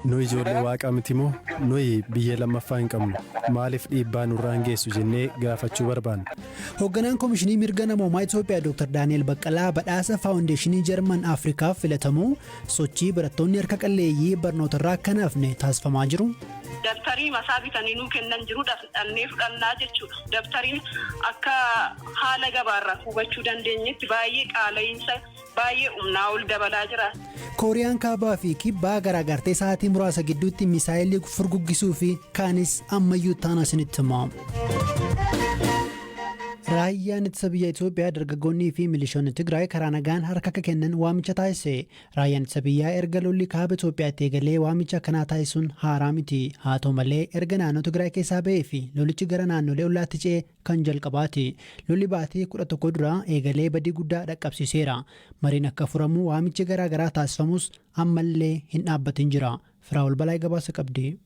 Nuyi ijoollee Waaqaa miti moo? Nuyi biyyee lammaffaa hin qabnu. Maaliif dhiibbaa nurraan geessu jennee gaafachuu barbaanna. Hogganaan Komishinii Mirga Namoomaa Itoophiyaa Dooktar Daani'eel Baqqalaa badhaasa Faawundeeshinii Jarman Afrikaaf filatamuu, sochii barattoonni harka qalleeyyii barnootarraa akka hin hafne taasifamaa jiru, Dabtarii masaa bitanii nuu kennan jiru dhaqnee fudhannaa jechuudha. Dabtariin akka haala gabaarraa hubachuu dandeenyetti baay'ee qaala'iinsa. baay'ee humnaa ol dabalaa jira. Kooriyaan Kaabaa fi Kibbaa garaagartee sa'aatii muraasa gidduutti misaayilii furguggisuu fi kaanis ammayyuu taana isinitti himamu. Raayyaan ittisa biyya Itoophiyaa dargaggoonnii fi milishoonni Tigraay karaa nagaan harka akka kennan waamicha taasise. Raayyaan ittisa biyyaa erga lolli kaaba Itoophiyaatti eegalee waamicha akkanaa taasisuun haaraa miti. Haa ta'u malee erga naannoo Tigraay keessaa ba'ee fi lolichi gara naannolee ollaatti ce'e kan jalqabaati. Lolli baatii 11 dura eegalee badii guddaa dhaqqabsiiseera. Mariin akka furamu waamichi garaa garaa taasifamus ammallee hin dhaabbatin jira. Firaa'ol Balaay gabaasa qabdi.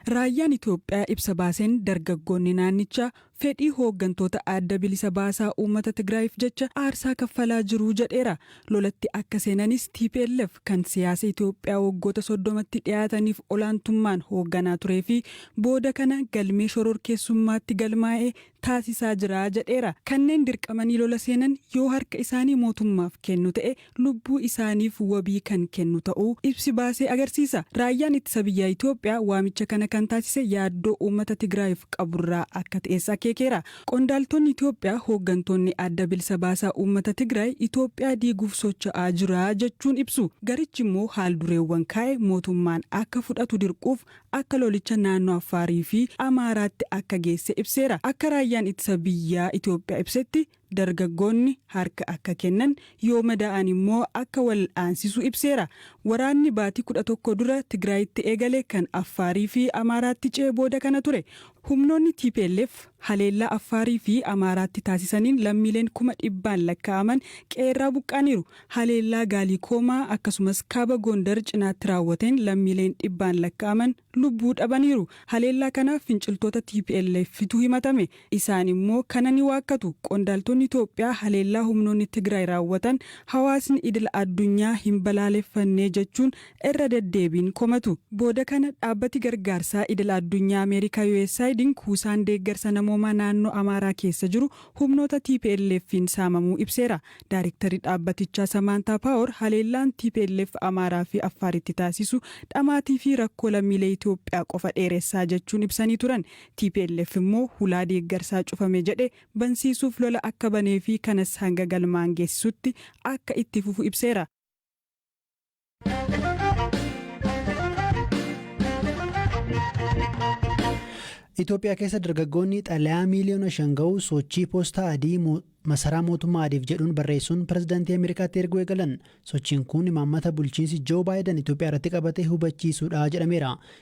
Raayyaan Itoophiyaa ibsa baaseen dargaggoonni naannichaa fedhii hooggantoota Adda Bilisa Baasaa Uummata Tigraayiif jecha aarsaa kaffalaa jiru jedheera. Lolatti akka seenanis tplf kan siyaasa Itoophiyaa waggoota 30tti dhiyaataniif olaantummaan hoogganaa turee fi booda kana galmee shororkeessummaatti galmaa'e taasisaa jira jedheera. Kanneen dirqamanii lola seenan yoo harka isaanii mootummaaf kennu ta'e lubbuu isaaniif wabii kan kennu ta'uu ibsi baase agarsiisa. Raayyaan Ittisa Biyyaa Itoophiyaa waamicha kana kan taasise yaaddoo uummata Tigraayiif qaburraa akka ta'es akeekeera. Qondaaltonni Itoophiyaa hooggantoonni Adda Bilisa Baasaa Uummata Tigraay Itoophiyaa diiguuf socho'aa jira jechuun ibsu. Garichi immoo haal-dureewwan kaa'e mootummaan akka fudhatu dirquuf akka lolicha naannoo Affaarii fi Amaaraatti akka geesse ibseera. Akka Raayyaan Ittisa Biyyaa Itoophiyaa ibsetti dargaggoonni harka akka kennan, yoo madaa'an immoo akka wal'aansisu ibseera. Waraanni baatii 11 dura Tigraayitti eegale kan Affaarii fi Amaaraatti ce'e booda kana ture. Humnoonni tplf haleellaa Affaarii fi Amaaraatti taasisaniin lammiileen kuma dhibbaan lakkaa'aman qe'eerraa buqqa'aniiru. Haleellaa Gaalikoomaa akkasumas Kaaba Goondar cinaatti raawwateen lammiileen dhibbaan lakkaa'aman lubbuu dhabaniiru. Haleellaa kana finciltoota TPLFtu himatame. Isaan immoo kana ni waakkatu. Qondaaltonni Itoophiyaa haleellaa humnoonni Tigraay raawwatan hawaasni idila addunyaa hin balaaleffanne jechuun irra deddeebiin komatu. Booda kana dhaabbati gargaarsaa idila addunyaa Ameerikaa USAIDn kuusaan deeggarsa namoomaa naannoo Amaaraa keessa jiru humnoota TPLFn saamamuu ibseera. Daarektarri dhaabbatichaa Samaantaa Paawor haleellaan tplf Amaaraa fi Affaaritti taasisu dhamaatii fi rakkoo lammiilee Itoophiyaa qofa dheeressaa jechuun ibsanii turan. Tplf immoo hulaa deeggarsaa cufame jedhe bansiisuuf lola akka banee fi kanas hanga galmaan geessisutti akka itti fufu ibseera. Itoophiyaa keessa dargaggoonni xalayaa miiliyoona shan ga'u sochii poostaa adii masaraa mootummaa adiif jedhuun barreessuun pirezidaantii Ameerikaatti erguu eegalan. Sochiin kun imaammata bulchiinsi Joo Baayidan Itoophiyaa irratti qabate hubachiisuudha jedhameera.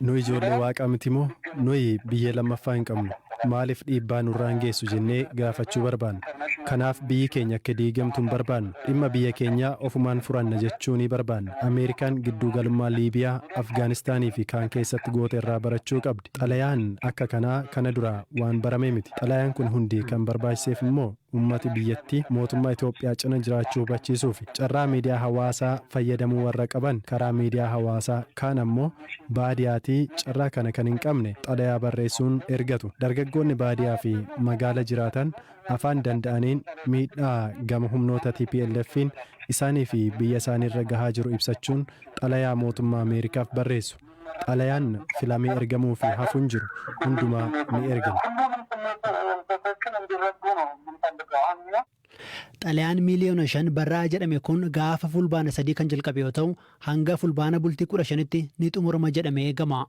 Nu ijoollee Waaqaa miti moo? Nuyi biyya lammaffaa hin qabnu. Maaliif dhiibbaa nurraan geessu jennee gaafachuu barbaanna. Kanaaf biyyi keenya akka diigamtu hin barbaannu. Dhimma biyya keenyaa ofumaan furanna jechuunii barbaanna. Ameerikaan gidduu galummaa Liibiyaa, Afgaanistaanii fi kaan keessatti goote irraa barachuu qabdi. Xalayaan akka kanaa kana duraa waan barame miti. Xalayaan kun hundi kan barbaachiseef immoo. Uummati biyyattii mootummaa Itoophiyaa cina jiraachuu hubachiisuufi carraa miidiyaa hawaasaa fayyadamuu warra qaban karaa miidiyaa hawaasaa, kaan ammoo baadiyaatii carraa kana kan hin qabne xalayaa barreessuun ergatu. Dargaggoonni baadiyaafi magaala jiraatan afaan danda'aniin miidhaa gama humnoota TPLFn isaaniifi biyya isaaniirra gahaa jiru ibsachuun xalayaa mootummaa Ameerikaaf barreessu. Xalayaan filamee ergamuu fi hafu hin jiru. Hundumaa ni ergina. Xalayaan miiliyoona 5 barra'a jedhame kun gaafa Fulbaana 3 kan jalqabe yoo ta'u, hanga Fulbaana bultii 15tti ni xumurama jedhamee eegama.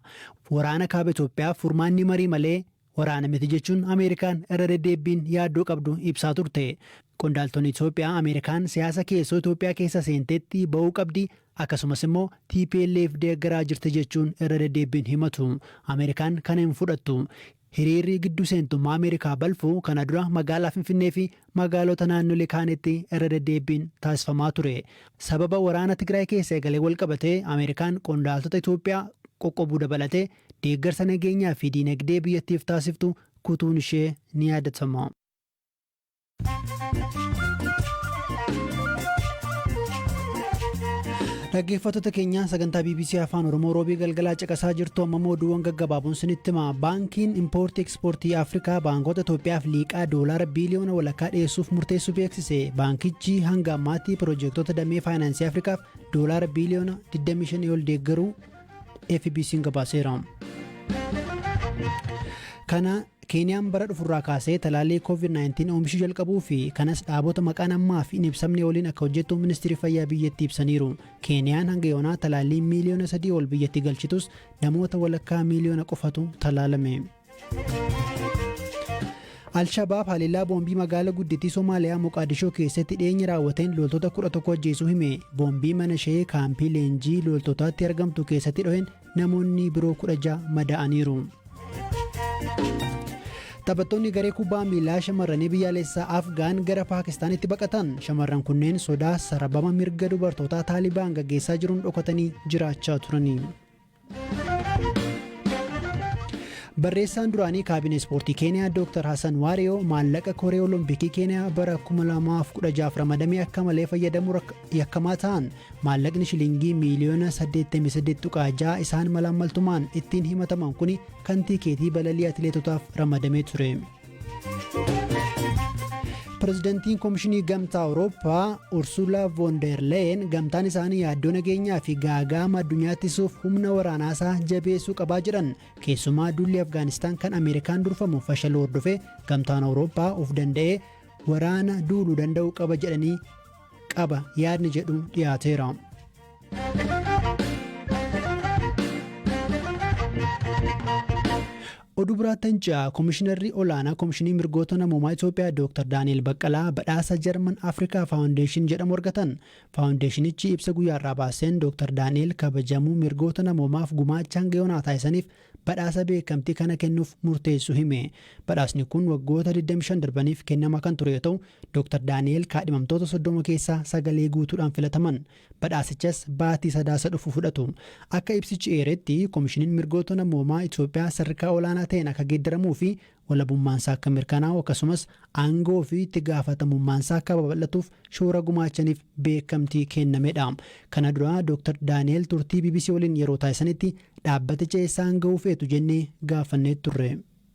Waraana Kaaba Itoophiyaaf furmaanni marii malee, Waraana miti jechuun Ameerikaan irra deddeebbiin yaaddoo qabdu ibsaa turte. Qondaaltonni Itoophiyaa Ameerikaan siyaasa keessoo Itoophiyaa keessa seentetti ba'uu qabdi, akkasumas immoo tplf deeggaraa jirti jechuun irra deddeebbiin himatu. Ameerikaan kana hin fudhattu. Hiriirri gidduu seentummaa Ameerikaa balfu kana dura magaalaa Finfinnee fi magaalota naannolee kaanitti irra deddeebbiin taasifamaa ture. Sababa waraana Tigraay keessa eegaleen walqabatee Ameerikaan qondaaltota Itoophiyaa qoqqobuu dabalatee deeggarsa nageenyaa fi diinagdee biyyattiif taasiftu kutuun ishee ni yaadatama. Dhaggeeffattoota keenya sagantaa BBC Afaan Oromoo roobii galgalaa caqasaa jirtu amma immoo oduuwwan gaggabaaboon sinitti hima. Baankiin Impoortii Ekspoortii Afrikaa baankoota Itoophiyaaf liiqaa doolaara biiliyoona walakkaa dhiyeessuuf murteessuu beeksise. Baankichi hanga ammaatti piroojeektota damee faayinaansii Afrikaaf doolaara biiliyoona 25 ol deeggaruu FBC'n gabaaseera. Kana Keeniyaan bara dhufurraa kaasee talaallii COVID-19 oomishuu jalqabuu fi kanas dhaabota maqaan ammaa fi hin ibsamne waliin akka hojjettu ministeerri fayyaa biyyattii ibsaniiru. Keeniyaan hanga yoonaa talaallii miiliyoona sadii ol biyyatti galchitus namoota walakkaa miiliyoona qofatu talaalame. Al-Shabaab haleellaa boombii magaala guddittii Somaaliyaa Moqaadishoo keessatti dhiyeenya raawwateen loltoota 11 ajjeesuu hime. Boombii mana ishee kaampii leenjii loltootaatti argamtu keessatti dho'een namoonni biroo 16 madaa'aniiru. Taphattoonni garee kubbaa miilaa shamarranii biyyaalessaa Afgaan gara Paakistaanitti baqatan. Shamarran kunneen sodaa sarabama mirga dubartootaa Taalibaan gaggeessaa jiruun dhokatanii jiraachaa turani. Barreessaan duraanii kaabinee ispoortii Keeniyaa Dr. Hassan Waariyoo maallaqa koree olompikii Keeniyaa bara 2016 ramadamee akka malee fayyadamuu yakkamaa ta'an maallaqni shilingii miiliyoona 88.6 isaan malaammaltumaan ittiin himataman kun kan tiikeetii balalii atileetotaaf ramadamee ture. Pirezidantiin Komishinii Gamtaa Awurooppaa Ursuulaa Voon der Leyen gamtaan isaanii yaaddoo nageenyaa fi gaaga'ama addunyaa ittisuuf humna waraanaasaa jabeessuu qabaa jedhan. Keessumaa duulli Afgaanistaan kan Ameerikaan durfamu fashaluu hordofee gamtaan Awurooppaa of danda'ee waraana duuluu danda'uu qaba jedhanii qaba yaadni jedhu dhiyaateera. Oduu biraatn ji'a Komishinarri Olaanaa Komishinii Mirgoota Namoomaa Itoophiyaa Dooktar Daani'eel Baqqalaa badhaasa Jarman Afrikaa Faawundeeshin jedhamu argatan. Faawundeeshinichi ibsa guyyaa har'aa baaseen Dooktar Daani'eel kabajamuu mirgoota namoomaaf gumaacha hanga yoonaa taasisaniif badhaasa beekamtii kana kennuuf murteessuu hime. Badhaasni kun waggoota 25 darbaniif kennamaa kan ture yoo ta'u, Dooktar Daani'eel kaadhimamtoota 30 keessaa sagalee guutuudhaan filataman. Badhaasichas baatii Sadaasa dhufu fudhatu. Akka ibsichi eeretti, Komishiniin Mirgoota Namoomaa Itoophiyaa sadarkaa olaanaa ta'een akka geeddaramuufi walabummaansaa akka mirkanaa'u akkasumas aangoofi itti gaafatamummaansaa akka babal'atuuf shoora gumaachaniif beekamtii kennamedha. Kana dura Doktar Daani'eel turtii bbc waliin yeroo taasisanitti dhaabbaticha eessaan ga'uu feetu jennee gaafannee turre.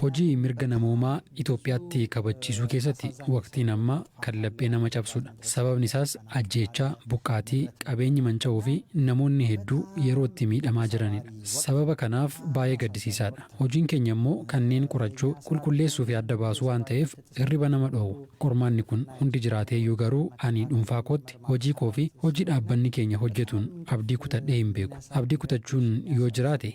Hojii mirga namoomaa Itoophiyaatti kabachiisuu keessatti waqtiin ammaa kan laphee nama cabsudha. Sababni isaas ajjeechaa, buqqaatii, qabeenyi manca'uu fi namoonni hedduu yeroo itti miidhamaa jiranidha. Sababa kanaaf baay'ee gaddisiisaadha. Hojiin keenya immoo kanneen qorachuu, qulqulleessuu fi adda baasuu waan ta'eef hirriba nama dhoowwa. Qormaanni kun hundi jiraateeyyuu garuu ani dhuunfaa kootti hojii koo fi hojii dhaabbanni keenya hojjetuun abdii kutadhee hin beeku. Abdii kutachuun yoo jiraate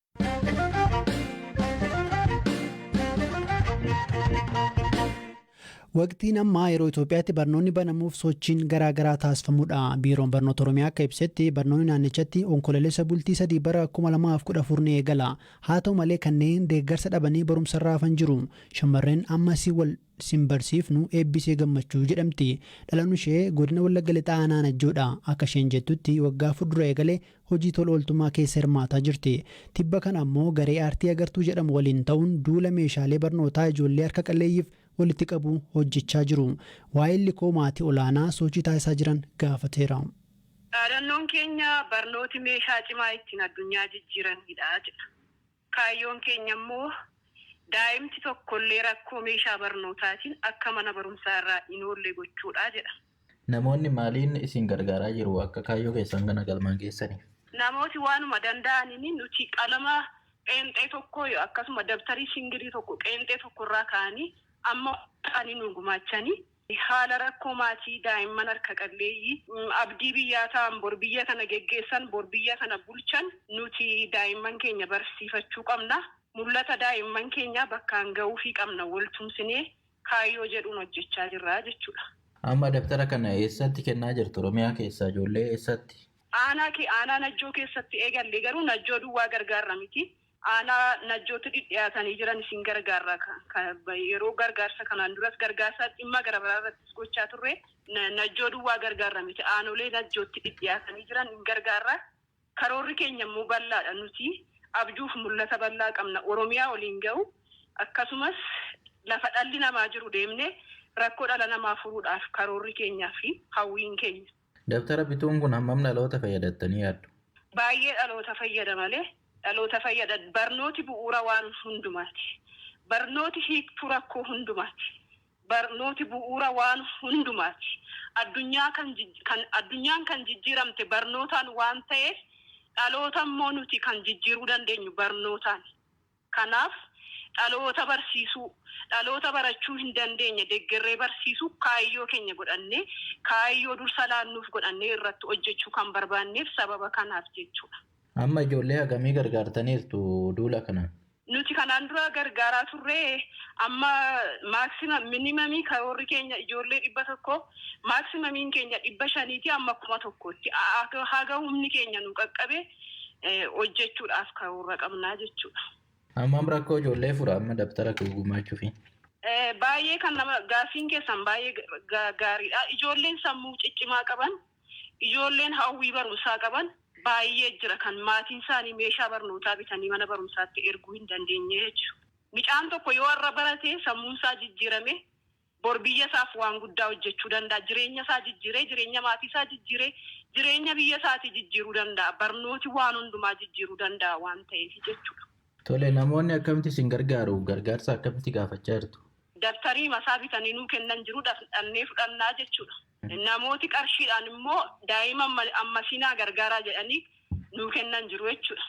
Waqtiin ammaa yeroo Itoophiyaatti barnoonni banamuuf sochiin garaa garaa taasifamudha. Biiroon Barnoota Oromiyaa akka ibsetti barnoonni naannichatti onkoloolessa bultii sadii bara 2014 ni eegala. Haa ta'u malee kanneen deeggarsa dhabanii barumsarraa hafan jiru. Shamarreen ammas wal sin barsiifnu Eebbisee Gammachuu jedhamti. Dhalan ishee Godina Wallagga Lixaa Aanaa Najjoo dha. Akka isheen jettutti waggaa afur dura eegalee hojii tola ooltummaa keessa hirmaataa jirti. Tibba kana ammoo garee aartii Agartuu jedhamu waliin ta'uun duula meeshaalee barnootaa ijoollee harka qalleeyyiif walitti qabuu hojjechaa jiru. Waahilli koo maatii olaanaa sochii taasisaa jiran gaafateera. Dhaadannoon keenya barnooti meeshaa cimaa ittiin addunyaa jijjiiraniidha jedha. Kaayyoon keenya immoo daa'imti tokkollee rakkoo meeshaa barnootaatiin akka mana barumsaa irraa hin oolle gochuudha jedha. Namoonni maaliin isin gargaaraa jiru akka kaayyoo keessan kana galmaan geessaniif? Namooti waanuma danda'aniin nuti qalama qeenxee tokko akkasuma dabtarii singirii tokko qeenxee tokko irraa ka'anii amma wanta ta'anii nuu gumaachanii Haala rakkoo maatii daa'imman harka qalleeyyii, abdii biyyaa ta'an, bor biyya kana geggeessan, bor biyya kana bulchan nuti daa'imman keenya barsiifachuu qabna. Mul'ata daa'imman keenyaa bakkaan ga'uufii qabna wal tumsinee kaayyoo jedhuun hojjechaa jirra jechuudha. Amma dabtara kana eessatti kennaa jirtu? Oromiyaa keessaa ijoollee eessatti? Aanaa Aanaa Najjoo keessatti eegalle. Garuu Najjoo duwwaa gargaarra miti. Aanaa Najjootti dhidhiyaatanii jiran isin gargaarra yeroo gargaarsa kanaan duras gargaarsa dhimma garagaraa irrattis gochaa turre Najjoo duwwaa gargaarra miti aanolee Najjootti dhidhiyaatanii jiran hin gargaarra karoorri keenya immoo bal'aadha nuti abjuuf mul'ata bal'aa qabna Oromiyaa oliin ga'u akkasumas lafa dhalli namaa jiru deemne rakkoo dhala namaa furuudhaaf karoorri keenyaa fi hawwiin keenya Dabtara bituun kun hammam dhaloota fayyadattanii yaaddu? Baay'ee dhaloota fayyada malee dhaloota fayyada barnooti bu'uura waan hundumaati. Barnooti hiiktuu rakkoo hundumaati. Barnooti bu'uura waan hundumaati. Addunyaa kan kan addunyaan kan jijjiiramte barnootaan waan ta'eef dhaloota immoo nuti kan jijjiiruu dandeenyu barnootaani. Kanaaf, dhaloota barsiisuu, dhaloota barachuu hin dandeenye deggerree barsiisuu kaayyoo keenya godhannee, kaayyoo dursa laannuuf godhannee irratti hojjechuu kan barbaanneef sababa kanaaf jechuudha. Amma ijoollee hagamii gargaartaniirtu duula kanaan? Nuti kanaan dura gargaaraa turre amma maximum, minimum karoorri keenya ijoollee 100, maximum keenya 500 ti amma 1000 tti. Haga humni keenya nuu qaqqabe hojjechuudhaaf karoora qabnaa jechuudha. Hammam rakkoo ijoollee fura amma dabtara gumaachuufi? Baay'ee kan nama gaaffiin keessan baay'ee gaariidha. Ijoolleen sammuu ciccimaa qaban, ijoolleen hawwii barumsaa qaban baay'ee jira kan maatiin isaanii meeshaa barnootaa bitanii mana barumsaatti erguu hin dandeenye jechuudha. Mucaan tokko yoo har'a barate sammuun isaa jijjiirame Bor biyya isaaf waan guddaa hojjechuu danda'a. Jireenya isaa jijjiiree, jireenya maatii isaa jijjiiree, jireenya biyya isaatii jijjiiruu danda'a. Barnooti waan hundumaa jijjiiruu danda'a waan ta'eef jechuudha. Tole, namoonni akkamitti isin gargaaru? Gargaarsa akkamitti gaafachaa jirtu? Dabtarii mataa bitanii nuu kennan jiru, dhaqnee fudhannaa jechuudha. Namooti qarshiidhaan immoo daa'ima ammasii naa gargaaraa jedhanii nuu kennan jiru jechuudha.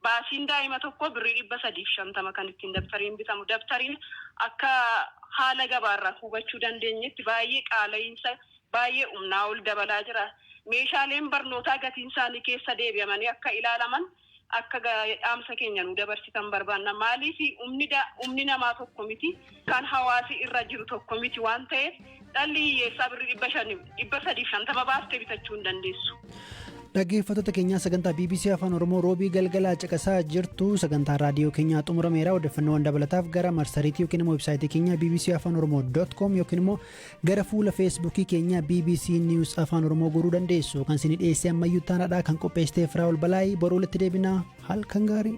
Baasiin daa'ima tokkoo birrii 350 kan ittiin dabtariin bitamu. Dabtariin akka haala gabaa irraa hubachuu dandeenyetti baay'ee qaala'iinsa baay'ee humnaa ol dabalaa jira. Meeshaaleen barnootaa gatiin isaanii keessa deebi'amanii akka ilaalaman akka dhaamsa keenya nuu dabarsitan barbaanna. Maaliif humni namaa tokko miti. kan hawaasi irra jiru tokko miti waan ta'eef dhalli hiyyeessaa birri 500, 350 baaftee bitachuu hin dandeessu. Dhaggeeffattoota keenyaa sagantaa BBC Afaan Oromoo roobii galgalaa caqasaa jirtu sagantaa raadiyoo keenyaa xumurameera odeeffannoowwan dabalataaf gara marsariitii yookiin immoo websaayitii keenyaa BBC Afaan Oromoo dot com yookiin immoo gara fuula feesbuukii keenyaa BBC News Afaan Oromoo goruu dandeessu kan isin dhiyeessee ammayyuu taanaadha kan qopheessiteef Raawul Balaayii boruu walitti deebinaa halkan gaarii.